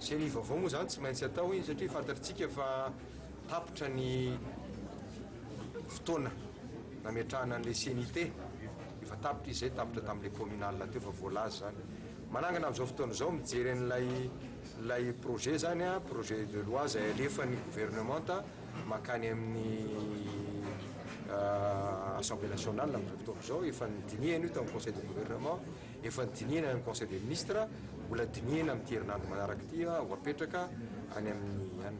Ceni vaovao moa izany tsy maintsy atao iny satria fantatritsika fa tapitra ny fotoana nametrahana an'ilay ceni te, efa tapitra izy izay, tapitra tamin'ilay communal teo fa voalaza izany. Manangana amin'izao fotoana izao mijery an'ilay ilay projet izany, projet de loi izay alefan'ny governemanta mankany amin'ny assemblée nationale amin'izao fotoana izao, efa nodinihana io tao amin'ny conseil de gouvernement, Efa nodinihina any amin'ny Conseil des Ministres, mbola dinihina amin'ity herinandro manaraka ity ho hapetraka any amin'ny an.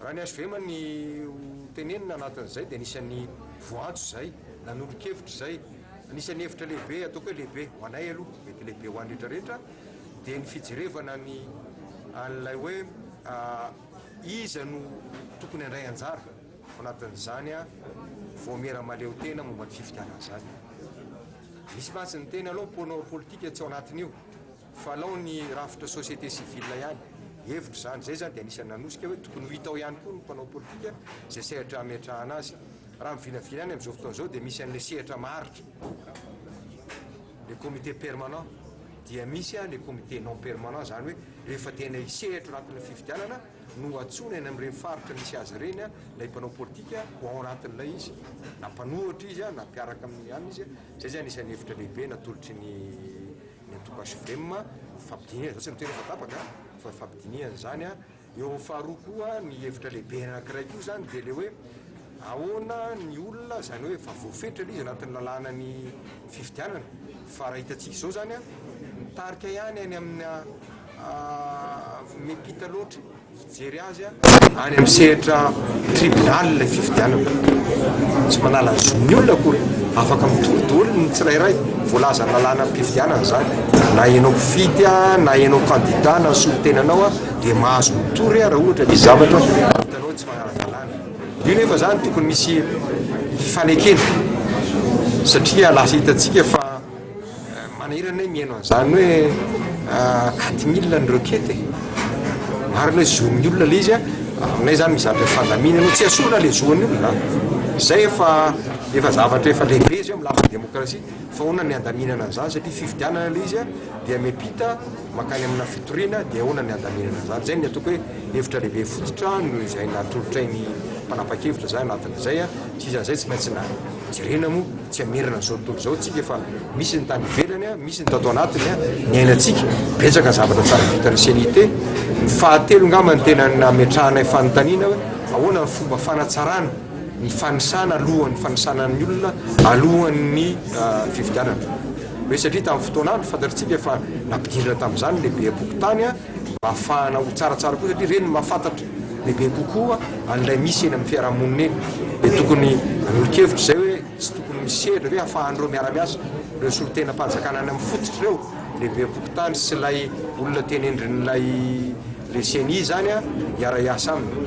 Raha ny hvm ny ho tenenina anatin'izay dia nisy an'ny voantso izay, nanolo-kevitra izay. Anisan'ny hevitra lehibe, ataoko hoe lehibe, ho anay aloha, mety lehibe ho an'ny rehetra rehetra, dia ny fijerevana ny an'ilay hoe iza no tokony handray anjara ao anatin'izany vaomiera mahaleotena momba ny fifidianana izany. Misy mantsy niteny alou mponao politika tsy ao anatin'io fa alou ny rafitra société civile ihany. Hevitro izany. Izay izany dia anisan'ny nanosika hoe tokony ho hita ao ihany koa ny mpanao politika izay sehatra hametrahana azy. Raha ny vinavina any amin'izao fotoana izao dia misy an'ilay sehatra maharitra, le comité permanent, dia misy an le comité non permanent izany hoe rehefa tena hisehatro anatin'ny fifidianana, no antsoina eny amin'ireny faritra misy azy ireny ilay mpanao politika ho ao anatin'ilay izy na mpanohatra izy na mpiaraka amin'ny anona izy izay izany isan'ny efitra lehibe natolotry ny ny antoko HVM fampidinihana izao tsy ny tena efa tapaka fa fampidinihana izany a eo amin'ny faharoa koa ny efitra lehibe anankiray koa izany dia le hoe ahoana ny olona izany hoe efa voafetra ilay izy anatin'ny lalàna ny fifidianana fa raha hitantsika izao izany a mitarika ihany any amina Miampita loatra fijery azy any amin'ny sehatra tribunal ilay fifidianana. Tsy manala ny zon'ny olona akory. Afaka mitory daholo ny tsirairay. Voalazan'ny lalànam-pifidianana izany. Na ianao mpifidy na ianao kandida na solontenanao dia mahazo mitory raha ohatra misy zavatra hitanao tsy manara-dalàna. Io nefa izany tokony misy fanekena satria lasa hitantsika fa Manahirana hoe mihaino an'izany hoe quatre mille ny requête e! Marina hoe zon'ny olona ilay izy a, aminay izany mizatra ny fandaminana hoe tsy esorina ilay zon'ny olona a! Izay efa efa zavatra efa lehibe izy io amin'ny lafiny demokrasia fa ahoana ny handaminana an'izany satria fifidianana ilay izy a dia miampita mankany amina fitoriana dia ahoana ny handaminana an'izany? Izay no ny ataoko hoe hevitra lehibe fototra noho izay natolotray ny mpanapa-kevitra izay anatin'izay a! Tsy izan'izay tsy maintsy na jerena moa tsy hamerina an'izao tontolo izao tsika fa misy ny tany ivelany a, misy ny tato anatiny a, niainantsika, betsaka ny zavatra tsara vitan'ny CNIT, ny fahatelo angamba ny tena nametrahanay fanontaniana hoe ahoana ny fomba fanatsarana ny fanisana alohan'ny fanisana ny olona alohan'ny fifidianana hoe satria tamin'ny fotoana andro fantatritsika fa nampidirina tamin'izany lehibeam-pokontany a, Ahafahana ho tsaratsara koa satria ireny no mahafantatra bebe kokoa an'ilay misy eny amin'ny fiarahamonina eny. Dia tokony hanolo-kevitra izay hoe tsy tokony misy sehatra ve ahafahan'ireo miara-miasa, ireo solontenam-panjakana any amin'ny fototra ireo, ilay beam-pokontany sy ilay olona tenendrin'ilay ilay ceni izany hiara-hiasa aminy.